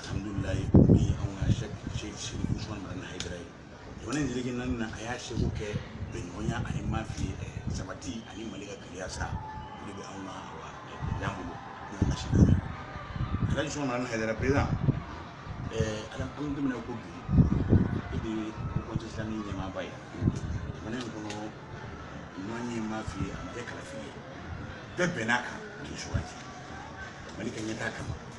alhamdulilayi bi anw ka sɛki usman madani hayidara ye jamana in seleke naani na a y'a seko kɛ bɛnɲɔgɔnya ani mafi sabati ani mali ka kelenya sa o de bɛ anw ka awa dan bolo n'o ye masi naani alhaji usman madani hayidara president ala an bɛ daminɛ ko bi e de ye conseil islamique ɲɛmaaba ye jamana in kɔnɔ ɲuman ye mafi a ma kɛ kalafili ye bɛɛ bɛnn'a kan k'i sugandi mali ka ɲɛtaa kama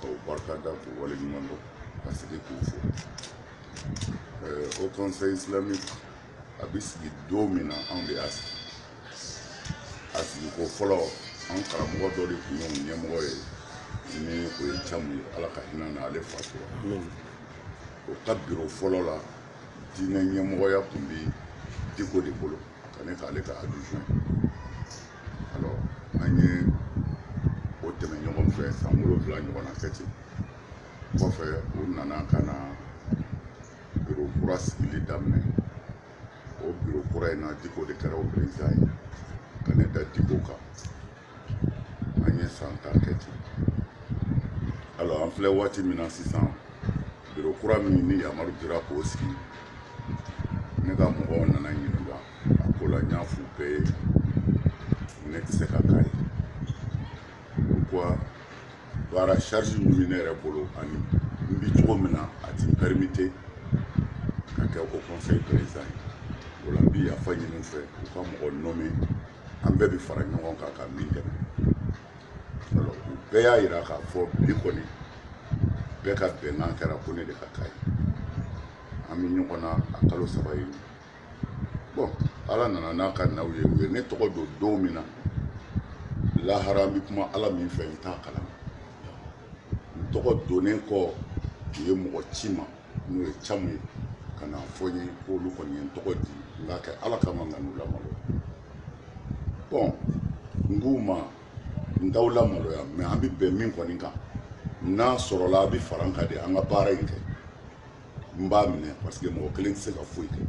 k'u barika da k'u waleɲuman dɔn ka segin k'u fo haut conseil islamique a bɛ sigi don min na anw de y'a sigi a sigiko fɔlɔ an karamɔgɔ dɔ de tun y'o ɲɛmɔgɔ ye ni o ye camu ye ala ka hinɛ a na ale fatura o ka biro fɔlɔ la diinɛ ɲɛmɔgɔya tun bɛ diko de bolo ka ne k'ale ka adjoint alors an ye o tɛmɛ ɲɔgɔn fɛ san wolonwula ɲɔgɔnna kɛ ten kɔfɛ u nana ka na biro kura sigili daminɛ o biro kura in na diko de kɛra o perezidan ye ka ne da diko kan an ye san tan kɛ ten alors an filɛ waati min na sisan biro kura min ni yamaru dira k'o sigi ne ka mɔgɔw nana ɲininka a ko la n y'a f'u bɛɛ ye ne tɛ se ka k'a ye pourquoi baara charge min bɛ ne yɛrɛ bolo ani n bɛ cogo min na a ti n permettre ka kɛ haut conseil président ye o la n bɛ yafa ɲini u fɛ u ka mɔgɔ nommer an bɛɛ bɛ fara ɲɔgɔn kan ka min dɛmɛ alors u bɛɛ y'a jira k'a fɔ bi kɔni bɛɛ ka bɛnkan kɛra ko ne de ka k'a ye an bɛ ɲɔgɔn na a kalo saba ye bɔn ala nana n'a ka naw ye u ye ne tɔgɔ don don min na lahara bɛ kuma ala min fɛ n t'a kalama n tɔgɔ donnen kɔ u ye mɔgɔ ci n ma n'o ye camu ye ka n'a fɔ n ye k'olu kɔni ye n tɔgɔ di n k'a kɛ ala kama n kan'u lamaloya bɔn n k'u ma n t'aw lamaloya mɛ an bɛ bɛn min kɔni kan n'a sɔrɔla aw bɛ fara n kan de an ka baara in kɛ n b'a minɛ parce que mɔgɔ kelen tɛ se ka foyi kɛ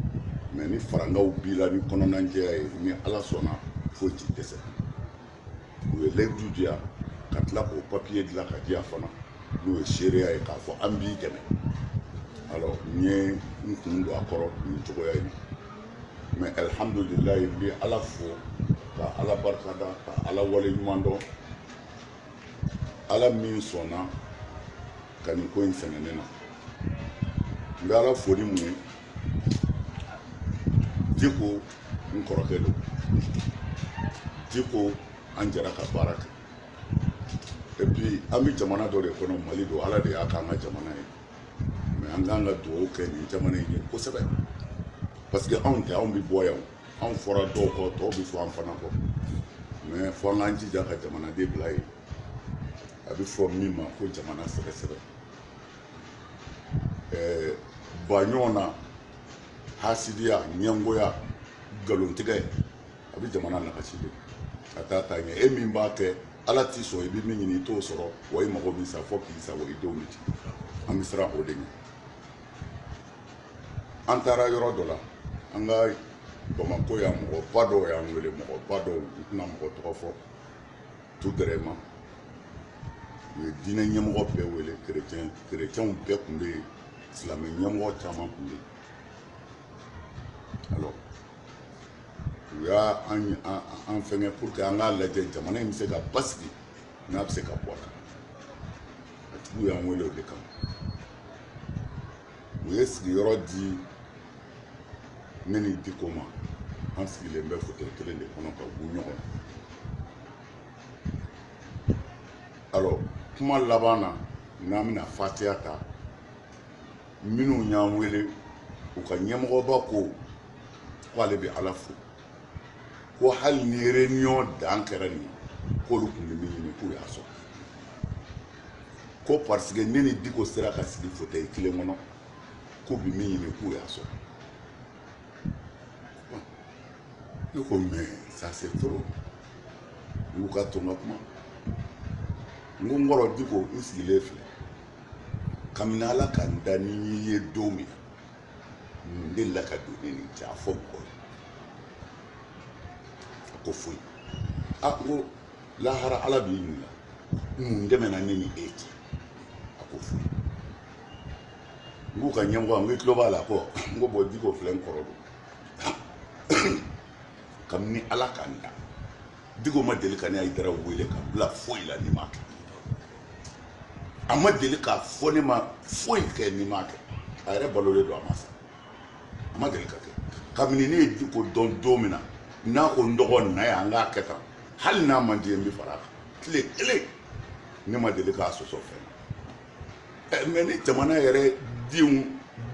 mɛ ni farankanw b'i la ni kɔnɔnajɛya ye ni ala sɔnna foyi ti dɛsɛ u ye layidu di yan ka tila k'o papiye dilan k'a di yan fana n'o ye seereya ye k'a fɔ an b'i dɛmɛ alors n ye n kun don a kɔrɔ nin cogoya in na mɛ alihamudulilayi n bɛ ala fo ka ala barika da ka ala waleɲuman dɔn ala min sɔnna ka nin ko in sɛnɛ ne na n bɛ ala fo ni mun ye diko n kɔrɔkɛ don diko an jɛra ka baara kɛ et puis an bɛ jamana dɔ de kɔnɔ mali don ala de y'a k'an ka jamana ye mais an k'an ka dugawu kɛ nin jamana in ye kosɛbɛ parce que anw tɛ anw bɛ bɔ yan anw fɔra dɔw kɔ tɔw bɛ fɔ an fana kɔ mais fo an k'an jija ka jamana de bila yen a bɛ fɔ min ma ko jamana sɛgɛsɛgɛ ɛɛ ban ɲɔgɔn na hasidiya ɲɛngoya nkalontigɛ a bɛ jamana nagasi de a tɛ taa ɲɛ e min b'a kɛ ala t'i sɔn i bɛ min ɲini i t'o sɔrɔ wa i mago b'i sa fo k'i sa wa i du bɛ ci an bɛ siran o de ɲɛ an taara yɔrɔ dɔ la an ka bamakɔ yan mɔgɔba dɔw y'an wele mɔgɔba dɔw n tɛna mɔgɔ tɔgɔ fɔ tout vraiment u ye diinɛ ɲɛmɔgɔ bɛɛ wele kerecɛn kerecɛnw bɛɛ tun bɛ yen silamɛ ɲɛmɔgɔ caman tun bɛ yen alors u y'a an an an fɛngɛ pour que an k'a lajɛ jamana in bɛ se ka basigi n'a bɛ se ka bɔ a kan a tigiw y'an wele o de kama u ye sigiyɔrɔ di ne ni diko ma an sigilen bɛ fauteuil kelen de kɔnɔ ka tugu ɲɔgɔn alors kuma laban na n'an bɛna fatiya ta minnu y'an wele u ka ɲɛmɔgɔba ko ko ale bɛ ala fo ko hali ni réunion dan kɛra nin k'olu tun bɛ min ɲini k'u y'a sɔrɔ ko parce que ne ni diko sera ka sigi fauteuil kelen kɔnɔ k'u bɛ min ɲini k'u y'a sɔrɔ ne ko mais ça c'est trop u k'a to n ka kuma n ko n kɔrɔ diko n sigilen filɛ kabini ala ka n da ni n y'i ye don min mun delila ka don ne n'i cɛ a fɔ mɔgɔ ye a ko foyi n ko lahara ala b'i ɲininka mun tɛmɛna ne ni e cɛ a ko foyi n k'u ka ɲɛmɔgɔ n ko i tulo b'a la kɛ n ko bon diko filɛ n kɔrɔ don kabini ala ka n da diko ma deli ka ne hayidara wele ka n bila foyi la ni n m'a kɛ a ma deli k'a fɔ ne ma foyi kɛ ni n m'a kɛ a yɛrɛ balolen don a ma sa a ma deli ka kɛ kabini ne ye diko dɔn don min na n'a ko n dɔgɔ na yan n k'a kɛ tan hali n'a man di n ye n bɛ fara a kan tile kelen ne ma deli k'a sɔsɔ fɛn mais ni jamana yɛrɛ denw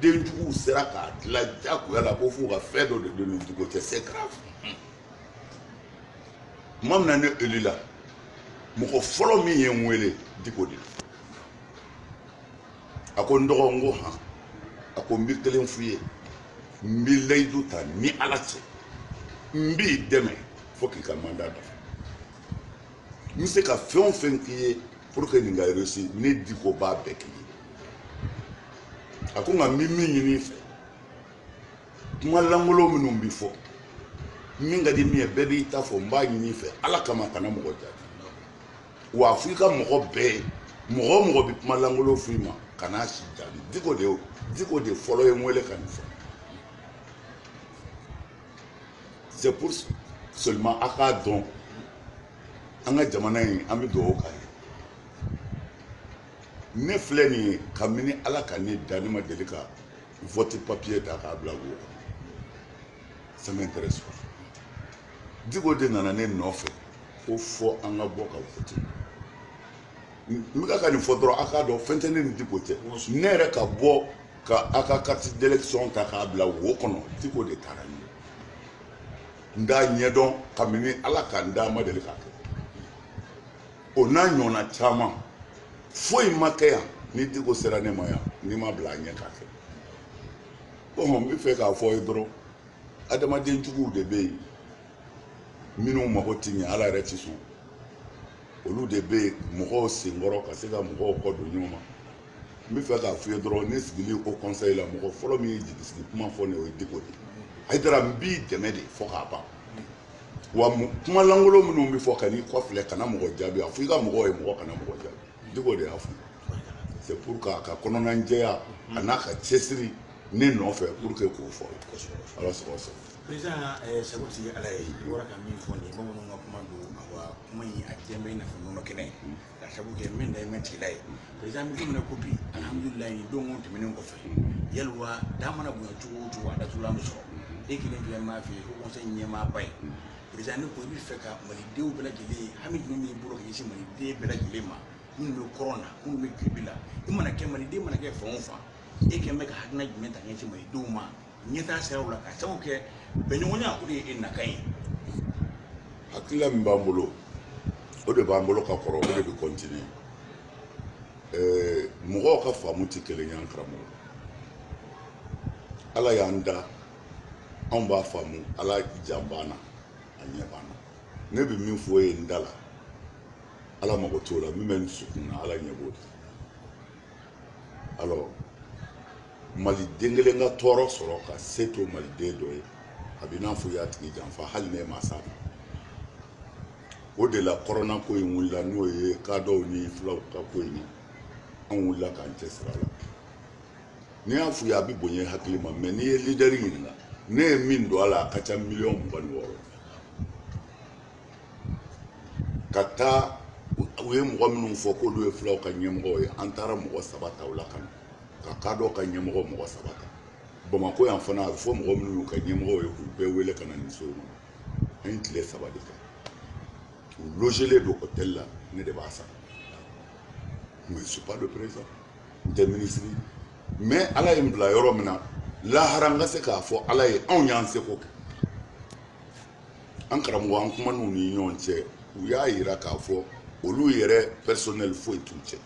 denjuguw sera k'a dila jagoya la ko f'u ka fɛn dɔ de don n ni diko cɛ se k'a tuma min na ne eli la mɔgɔ fɔlɔ min ye n wele diko de a ko n dɔgɔ n ko han a ko n bi kelen f'i ye n bi layidu ta n ni ala cɛ n b'i dɛmɛ fo k'i ka mandat dafa n bɛ se ka fɛn o fɛn k'i ye pour que nin ka réussi ne diko b'a bɛɛ k'i ye a ko nka n bɛ min ɲini i fɛ kuma lankolon minnu bɛ fɔ min ka di min ye bɛɛ b'i ta fɔ n b'a ɲini i fɛ ala kama kana mɔgɔ jaabi wa a f'i ka mɔgɔ bɛɛ ye mɔgɔ o mɔgɔ bɛ kuma lankolon f'i ma kana si jaabi diko de diko de fɔlɔ ye n wele ka nin fɔ c'est pour seulement a k'a dɔn an ka jamana in an bɛ dugawu k'a ye ne filɛ nin ye kabini ala ka ne da ne ma deli ka vote papier ta k'a bila wo kɔnɔ ça m'intéresse pas diko de nana ne nɔfɛ ko fo an ka bɔ ka vote n bɛ kan ka nin fɔ dɔrɔn a k'a dɔn fɛn tɛ ne ni diko cɛ ne yɛrɛ ka bɔ ka a ka carte d'élection ta k'a bila wo kɔnɔ diko de taara n ye n t'a ɲɛdɔn kabini ala ka n da n ma deli k'a kɛ o n'a ɲɔgɔnna caman foyi ma kɛ yan ni diko sera ne ma yan ne ma bila a ɲɛ k'a kɛ bon n bɛ fɛ k'a f'i ye dɔrɔn adamaden juguw de bɛ yen minnu mago tɛ ɲɛ ala yɛrɛ tɛ sɔn olu de bɛ yen mɔgɔw senkɔrɔ ka se ka mɔgɔw kɔ don ɲɔgɔn ma n bɛ fɛ k'a f'i ye dɔrɔn ne sigili haut conseil la mɔgɔ fɔlɔ min ye jigisigi kuma fɔ ne o ye diko de ayidara n b'i dɛmɛ de fo k'a ban wa kuma lankolon minnu bɛ fɔ kan'i kɔfilɛ kana mɔgɔ jaabi a fɔ i ka mɔgɔw ye mɔgɔ kana mɔgɔ jaabi diko de y'a fɔ c'est pour que a ka kɔnɔna jɛya a n'a ka cɛsiri ne nɔfɛ pour que k'o fɔ ala sago sago président eh, sago tigi ala ye i bɔra ka min fɔ nin ye bamananw ka kuma don awa kuma in a jɛman i n'a fɔ nɔnɔ kɛnɛ ka sabu kɛ min da ye matigi ala ye président an bɛ don min na ko bi alhamdulilayi nin don tɛmɛnen kɔfɛ yaliwa da mana bonya cogo o cogo a datugulan bɛ sɔrɔ e kɛlen filɛ m'a fɛ yen haut conseil ɲɛmaaba ye président ne ko i bɛ fɛ ka malidenw bɛɛ lajɛlen hami jumɛn b'i bolo ka ɲɛsin maliden bɛɛ lajɛlen ma minnu bɛ kɔrɔn na minnu bɛ tilebin la i mana kɛ maliden mana kɛ fan o fan e kɛlen bɛ ka hakilina jumɛn ta ka ɲɛsin malidenw ma ɲɛtaa siraw la ka sabu kɛ bɛnɲɔgɔnya o de ye e nakan ye hakilila min b'an bolo o de b'an bolo ka kɔrɔ o de bɛ kɔntini mɔgɔw ka faamu tɛ kelen ye an karamɔgɔ ala y'an da anw b'a faamu ala jan b'an na a ɲɛ b'an na ne bɛ min fɔ i ye n da la ala mago t'o la min bɛ n dusukun na ala ɲɛ b'o la alors mali den kelen ka tɔɔrɔ sɔrɔ ka se to mali den dɔ ye a bɛ n'a fɔ y'a tigi janfa hali ne ma sa o de la kɔrɔna ko in wulila n'o ye kadɔw ni fulaw ka ko in ye an wulila k'an cɛsiri a la n'i y'a f'u ye a bɛ bonya hakili ma mɛ n'i ye lidɛri ɲininka ne ye min don a la a ka ca miliyɔn mugan ni wɔɔrɔ ka taa u ye mɔgɔ minnu fɔ k'olu ye fulaw ka ɲɛmɔgɔ ye an taara mɔgɔ saba ta u la ka na ka kadɔ ka ɲɛmɔgɔ mɔgɔ saba ta bamakɔ yan fana a bɛ fɔ mɔgɔ minnu y'u ka ɲɛmɔgɔ ye k'u bɛɛ wele ka na nin so kɔnɔ an ye tile saba de kɛ u logelen don hôtel la ne de b'a sara mais je suis pas le président n tɛ minisiri mais ala ye n bila yɔrɔ min na lahara n ka se k'a fɔ ala ye anw y'an seko kɛ an karamɔgɔ an kuman'u ni ɲɔgɔn cɛ u y'a yira k'a fɔ olu yɛrɛ pɛrisɔnɛli foyi t'u cɛ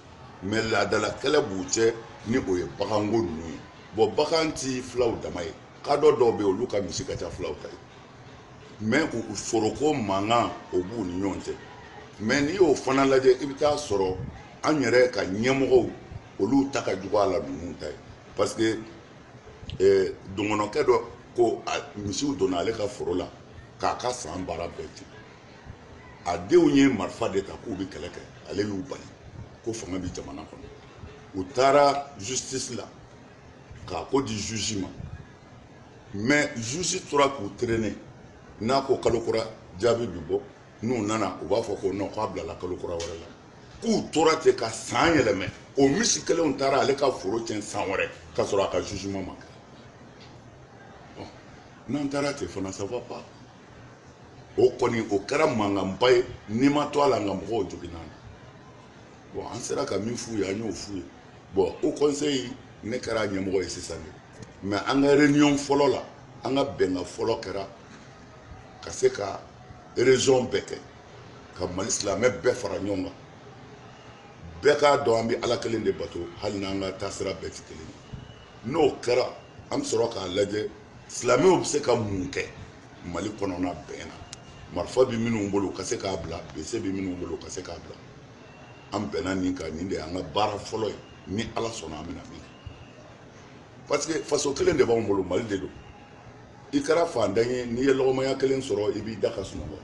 mɛ laadala kɛlɛ b'u cɛ ni o ye baganko ninnu ye bɔn bagan tɛ fulaw dama ye kadɔ dɔw bɛ olu ka misi ka ca fulaw ta ye mɛ u foroko mankan o b'u ni ɲɔgɔn cɛ mɛ n'i y'o fana lajɛ i bɛ taa sɔrɔ an yɛrɛ ka ɲɛmɔgɔw olu ta ka jugu a la ninnu ta ye parce que eh, dɔgɔnɔkɛ dɔ ko misiw donna ale ka foro la k'a ka san baara bɛɛ tiɲɛ a denw ye marifa de ta k'u bɛ kɛlɛ kɛ ale y'u bali ko fanga bɛ jamana kɔnɔ u taara justice la k'a ko di juge ma mais juge tora k'u traîner n'a ko kalo kura jaabi bɛ bɔ n'u nana u b'a fɔ ko non k'a bilala kalo kura wɛrɛ la k'u tora ten ka san yɛlɛmɛ o misi kelenw taara ale ka foro tiɲɛ san wɛrɛ k'a sɔrɔ a ka jugement ma kɛ n'an taara ten fana ça va pas o kɔni o kɛra mankanba ye ni ma to a la nka mɔgɔw joginna bon an sera ka min f'u ye an y'o f'u ye bon haut conseil ne kɛra ɲɛmɔgɔ ye sisan de mais an ka réunion fɔlɔ la an ka bɛnkan fɔlɔ kɛra ka se ka région bɛɛ kɛ ka mali silamɛ bɛɛ fara ɲɔgɔn kan bɛɛ k'a dɔn an bɛ ala kelen de bato hali n'an ka taasira bɛɛ tɛ kelen ye n'o kɛra an bɛ sɔrɔ k'a lajɛ silamɛw bɛ se ka mun kɛ mali kɔnɔna bɛn na marifa bɛ minnu bolo ka se k'a bila bese bɛ minnu bolo ka se k'a bila an bɛnna nin kan nin de y'an ka baara fɔlɔ ye ni ala sɔnna an bɛna min kɛ parce que faso kelen de b'anw bolo mali de don i kɛra fantan ye n'i ye lɔgɔmaya kelen sɔrɔ i b'i da ka sunɔgɔ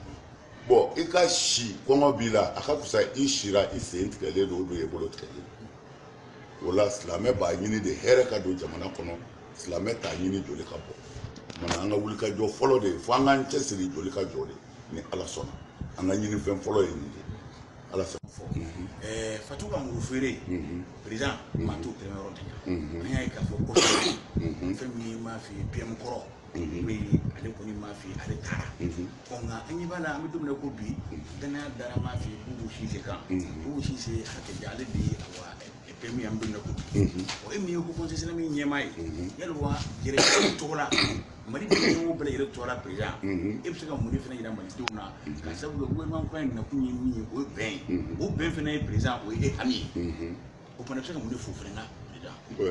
bon i ka si kɔngɔ b'i la a ka fisa i sira i sen tigɛlen don o don i bolo tigɛlen don o la silamɛ b'a ɲini de hɛrɛ ka don jamana kɔnɔ silamɛ t'a ɲini joli ka bɔ mana an ka wulikajɔ fɔlɔ de ye fo an k'an cɛsiri joli ka jɔ de ni ala sɔnna an ka ɲinifɛn fɔlɔ ye nin de ala fɛ fɔ eh, fatu ka muru feere mhm. président maa mhm. t'o kɛra yɔrɔ de la mhm. an y'a ye k'a fɔ ko fɛn min m'a f'i ye pm kɔrɔ bɛ yen ale kɔni m'a fɛ yen ale taara ɔ nka an ɲɛ b'a la an bɛ don min na ko bi dannaya dara m'a fɛ yen k'u b'u sinsin kan k'u b'u sinsin hakɛ di ale de ye awa bɛɛ min an bɛ don min na ko bi o ye min ye haut conseil islamique ɲɛmaa ye yali wa yɛrɛ tɔgɔ la mali denw bɛɛ yɛrɛ tɔgɔ la président e bɛ se ka mun de fana yira malidenw na k'a sabu kɛ gouvernement kura in nakun ye min ye o ye bɛn ye o bɛn fana ye président o ye e hami ye o fana bɛ se ka mun de fo fana na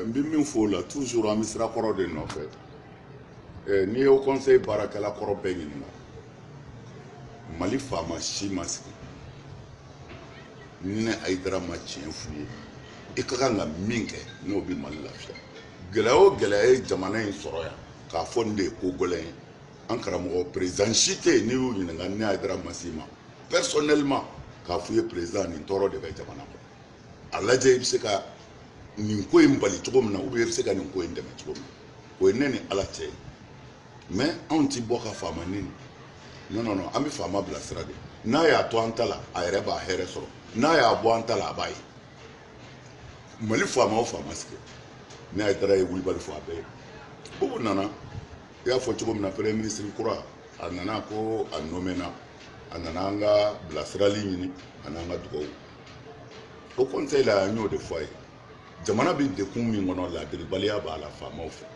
n bɛ min fɔ o la toujours an bɛ sira kɔrɔ de nɔfɛ eh, n'i ye haut conseil baarakɛla kɔrɔ bɛɛ ɲininka mali faama si ma sigi ni ne hayidara ma tiɲɛ f'u ye i ka kan ka min kɛ n'o bɛ mali lafiya gɛlɛya o gɛlɛya ye jamana in sɔrɔ yan k'a fɔ nin de ye ko gɛlɛn ye an karamɔgɔ président si tɛ yen n'i y'u ɲininka ne hayidara ma s'i ma personnellement k'a f'u ye président nin tɔɔrɔ de bɛ jamana kɔnɔ a lajɛ i bɛ se ka nin ko in bali cogo min na ou bien i bɛ se ka nin ko in dɛmɛ cogo min na o ye ne ni ala cɛ ye mais anw ti bɔ ka faama nɛni non non non an bɛ faama bilasira de n'a y'a to an ta la a yɛrɛ b'a hɛrɛ sɔrɔ n'a y'a bɔ an ta la a b'a ye mali faama o faama sigi ne hayidara ye wulibali fɔ a bɛɛ ye bubu nana i y'a fɔ cogo min na premier ministre kura a nana ko a nomena a nana an ka bilasirali ɲini an'an ka dugawu haut conseil la an y'o de fɔ a ye jamana bɛ degun min kɔnɔ ladiribaliya b'a la faamaw fɛ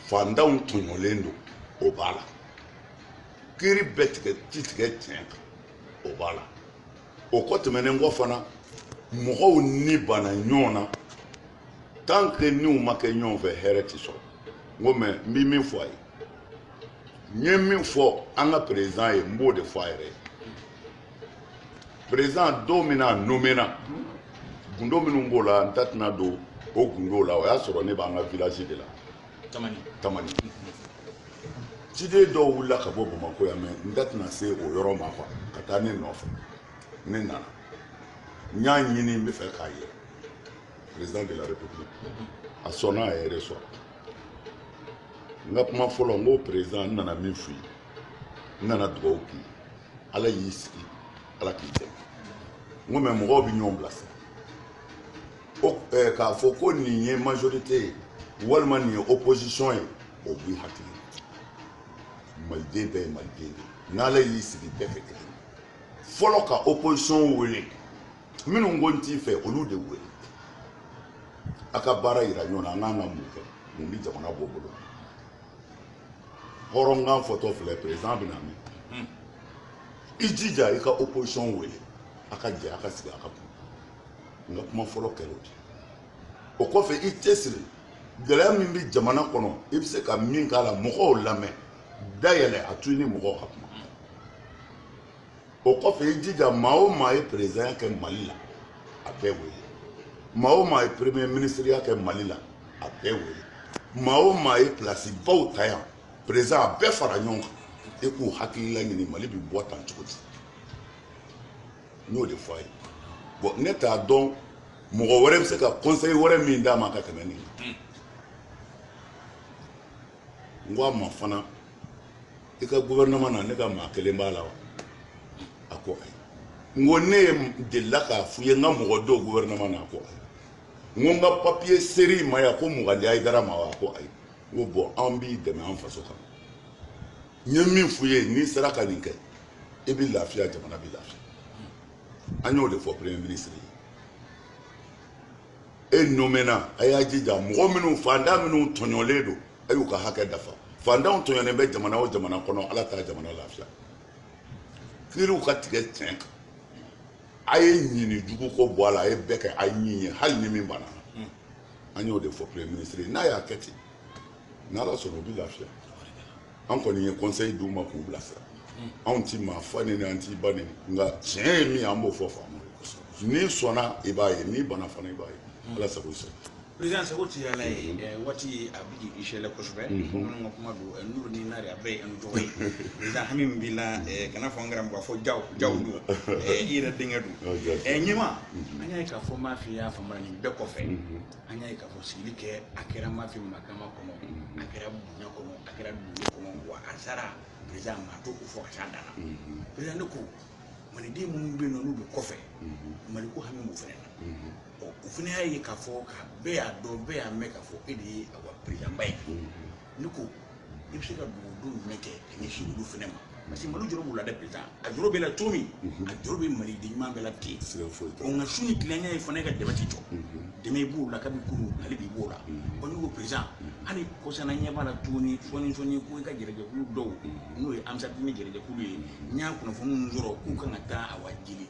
fantanw tɔɲɔlen don o b'a la kiri bɛ tigɛ ti tigɛ tiɲɛ kan o b'a la o kɔ tɛmɛnen kɔ fana mɔgɔw ni banna ɲɔgɔn na tant que niw ma kɛ ɲɔgɔn fɛ hɛrɛ ti sɔrɔ n ko mɛ n bɛ min fɔ a ye n ye min fɔ an ka président ye n b'o de fɔ a yɛrɛ ye président don min na a nomména gundo minnu b'o la n da tɛna don o gundow la o y'a sɔrɔ ne b'an ka village de la tamani tamani ciden dɔw wulila ka bɔ bamakɔ yan mɛ n da tɛna se o yɔrɔ ma kuwa ka taa ne nɔfɛ ne nana n y'a ɲini n b'a fɛ k'a ye président de la république a sɔnna a yɛrɛ sɔrɔ n ka kuma fɔlɔ n ko président n nana min f'i ye n nana dugawu k'i ye ala y'i sigi ala k'i dɛmɛ n ko mɛ mɔgɔw bɛ ɲɔgɔn bilasira k'a fɔ ko nin ye majorite ye walima nin ye opposition ye o b'i hakili maliden bɛɛ ye maliden de ye n'ala y'i sigi bɛɛ kɛ kelen fɔlɔ ka opposition wele minnu ko n t'i fɛ olu de wele a ka baara yira ɲɔgɔn na an kan ka mun kɛ mun bɛ jamana bɔ bolo hɔrɔnkan fɔtɔ filɛ perezidan bɛna mɛn hmm. i jija i ka opposition wele a ka jɛ a ka sigi a ka kuma n ka kuma fɔlɔ kɛra o de o kɔfɛ i cɛsiri gɛlɛya min bɛ jamana kɔnɔ i bɛ se ka min k'a la mɔgɔw lamɛn da yɛlɛ a to i ni mɔgɔw ka kuma o kɔfɛ i jija maa o maa ye perezidanya kɛ mali la a bɛɛ wele maa o maa ye premier minisiriya kɛ mali la a bɛɛ wele maa o maa ye pilasibaw ta yan perezidan a bɛɛ fara ɲɔgɔn kan i k'u hakilila ɲini mali bɛ bɔ tan cogo di n y'o de fɔ a ye bɔn ne t'a dɔn mɔgɔ wɛrɛ bɛ se ka conseil wɛrɛ min d'a ma ka tɛmɛ nin kan n ko a ma fana i ka gouvernement na ne ka maa kelen b'a la wa a ko ayi n ko ne y'i deli la k'a f'i ye n ka mɔgɔ don gouvernement na a ko ayi n ko n ka papiye ser'i ma yan ko mugan di hayidara ma wa a ko ayi n ko bɔn an b'i dɛmɛ an faso kama n ye min f'i ye n'i sera ka nin kɛ i bɛ lafiya jamana bɛ lafiya an y'o de fɔ premier ministre ye e nomena a y'a jija mɔgɔ minnu fantan minnu tɔɲɔlen don a y'u ka hakɛ dafa fantanw tɔɲɔnen bɛ jamana o jamana kɔnɔ ala t'a jamana lafiya kiriw ka tigɛ tiɲɛ kan a ye ɲin ni jugu ko bɔ a la a ye bɛɛ kɛ a ɲin ye hali ni min banna an y'o de fɔ premier ministre ye n'a y'a kɛ ten n'ala sɔnna o bɛ lafiya an kɔni ye conseil d'u ma k'u bilasira anw tɛ maa fa neni an t'i ba neni nka tiɲɛ ye min ye an b'o fɔ faama n'i sɔnna i b'a ye n'i bana fana i b'a ye ala sago i sago président seko ti yala ye waati a bi k'i sɛlɛ kosɛbɛ bamananw ka kuma don nuru ni nari a bɛɛ ye an tɔgɔ ye président hami min b'i la kana fɔ an kɛra mɔgɔ fɔ jaw jaw don i yɛrɛ denkɛ don ɲɛma an y'a ye k'a fɔ m'a f'i y'a faamuya nin bɛɛ kɔfɛ an y'a ye k'a fɔ sigili kɛ a kɛra m'a f'i ma kama kɔnɔ a kɛra bonya kɔnɔ a kɛra dugu kɔnɔ wa a sara président maa tɛ ko fɔ ka s'a dan na président ne ko maliden minnu bɛ yen nɔ n'u bɛ kɔfɛ maliko hami b'u fɛnɛ na ɔ o fana y'a ye k'a fɔ ka bɛɛ y'a dɔn bɛɛ y'a mɛn k'a fɔ e de ye awa perezidanba ye ne ko i bɛ se ka dugawu jumɛn kɛ ka ɲɛsin olu fana ma parce que mali jɔrɔ b'u la dɛ perezidan a jɔrɔ b'e la cogo min a jɔrɔ bɛ mali den ɲuman bɛɛ la ten siga foyi t'o la nka su ni tilenya ye fana e ka dɛmɛ tɛ jɔ dɛmɛ i b'o la kabi kuru ale b'i b'o la ɔ ne ko perezidan hali kɔsana ɲɛ b'a la tuguni sɔɔni sɔɔni ko i ka jɛrɛjɛkulu dɔw n'o ye ansarudini jɛrɛjɛkulu ye n y'a kunnafoni minnu sɔrɔ k'u kan ka taa awa jeli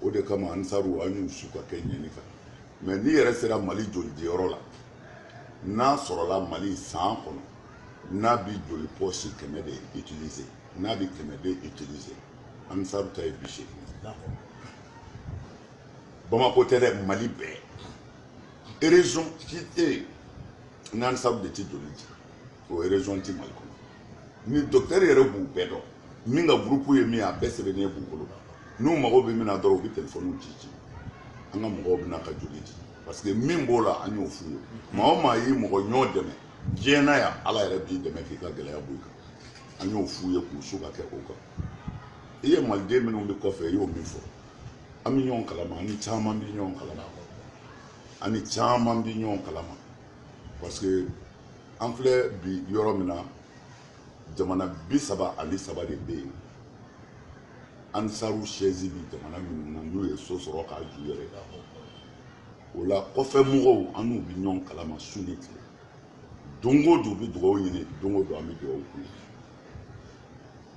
o de kama ansaru an y'u su ka kɛ nin kan mais n'i yɛrɛ sera mali jolidiyɔrɔ la n'a sɔrɔla mali san kɔnɔ n'a bi joli pɔsi kɛmɛ de utiliser n'a bi kɛmɛ de utiliser ansaru ta ye bi seegin bamako tɛ dɛ mali bɛɛ région si tɛ yen n'ansaru de tɛ joli di o région ti mali kɔnɔ ni docteur yɛrɛ b'u bɛɛ dɔn min ka groupe ye min ye a bɛɛ sɛbɛnnen b'u bolo n'u mago bɛ min na dɔrɔn u bɛ telefɔniw ci ci an ka mɔgɔw bɛ na ka joli di parce que min b'o la an y'o f'u ye maa o maa y'i mɔgɔ ɲɔgɔn dɛmɛ diɲɛ na yan ala yɛrɛ b'i dɛmɛ k'i ka gɛlɛya bɔ i kan an y'o f'u ye k'u su ka kɛ o kan i ye maliden minnu bɛ kɔfɛ i y'o min fɔ an bɛ ɲɔgɔn kalama an ni caman bɛ ɲɔgɔn kalama an ni caman bɛ ɲɔgɔn kalama parce que an filɛ bi yɔrɔ min na jamana bi saba ani saba de bɛ yen ansaru sɛzi bi jamana minnu na n'u ye so sɔrɔ k'a jɔ yɛrɛ o la kɔfɛ mɔgɔw an n'u bɛ ɲɔgɔn kalama su ni tile don o don u bɛ dugawu ɲini don o don an bɛ dugawu k'u ye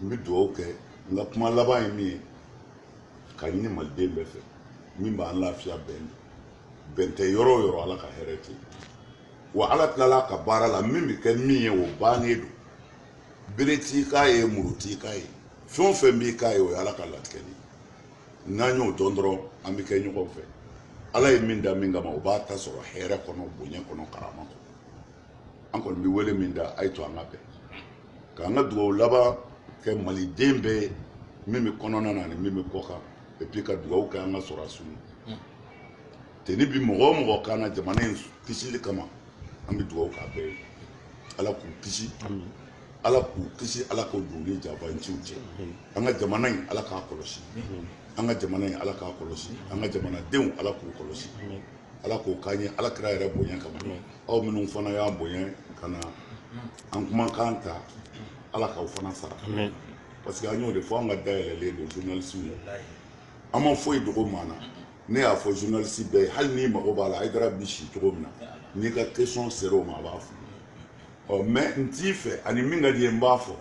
n bɛ dugawu kɛ n ka kuma laban ye min ye k'a ɲini maliden bɛɛ fɛ min b'an lafiya bɛn bɛn tɛ yɔrɔ o yɔrɔ ala ka hɛrɛ tɛ yen wa ala tilala ka baara la min bɛ kɛ min ye o bannen don bere t'i k'a ye muru t'i k'a ye fɛn o fɛn b'i k'a ye o ye ala ka latigɛ de ye n'an y'o dɔn dɔrɔn an bɛ kɛ ɲɔgɔn fɛ ala ye min da min kama o b'a ta sɔrɔ hɛrɛ kɔnɔ bonya kɔnɔ karama kɔnɔ an kɔni bɛ wele min da a y'a to an ka bɛn k'an ka dugawu laban kɛ maliden bɛɛ ye min bɛ kɔnɔna na ani min bɛ kɔ kan epi ka dugawu kɛ an ka sɔrɔdasiw tenue bi mɔgɔ o mɔgɔ kan na jamana in kisili kama an bɛ dugawu k'a bɛɛ ye ala k'u kisi ala k'u kisi ala k'u dogo janfanciw cɛ an ka jamana in ala k'a kɔlɔsi an ka jamana in ala k'a kɔlɔsi an ka jamanadenw ala k'u kɔlɔsi ala k'o k'an ye ala kira yɛrɛ bonya kama aw minnu fana y'a bonya ka na an kumakan ta ala k'aw fana sara parce que an y'o de fɔ an ka da yɛlɛlen don journalistew ye an ma foyi dogo maa na ne y'a fɔ journaliste bɛɛ ye hali n'i mago b'a la Haidara bi si cogo min na n'i ka question sera o ma a b'a fɔ ɔ mais n t'i fɛ ani min ka d'i ye n b'a fɔ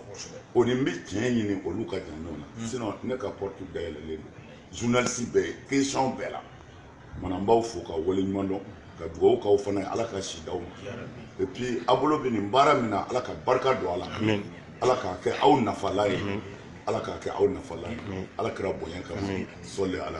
o ni n bɛ tiɲɛ ɲini olu ka jan ɲɔgɔn na sinon ne ka porte dayɛlɛlen don journaliste bɛɛ ye question bɛɛ la mana n b'aw fo ka waleɲuman dɔn ka dugawu k'aw fana ye ala ka si d'aw ma et puis a bolo bɛ nin baara min na ala ka barika don a la ala k'a kɛ aw nafala ye ala k'a kɛ aw nafala ye ala kira bonya kama sɔli ala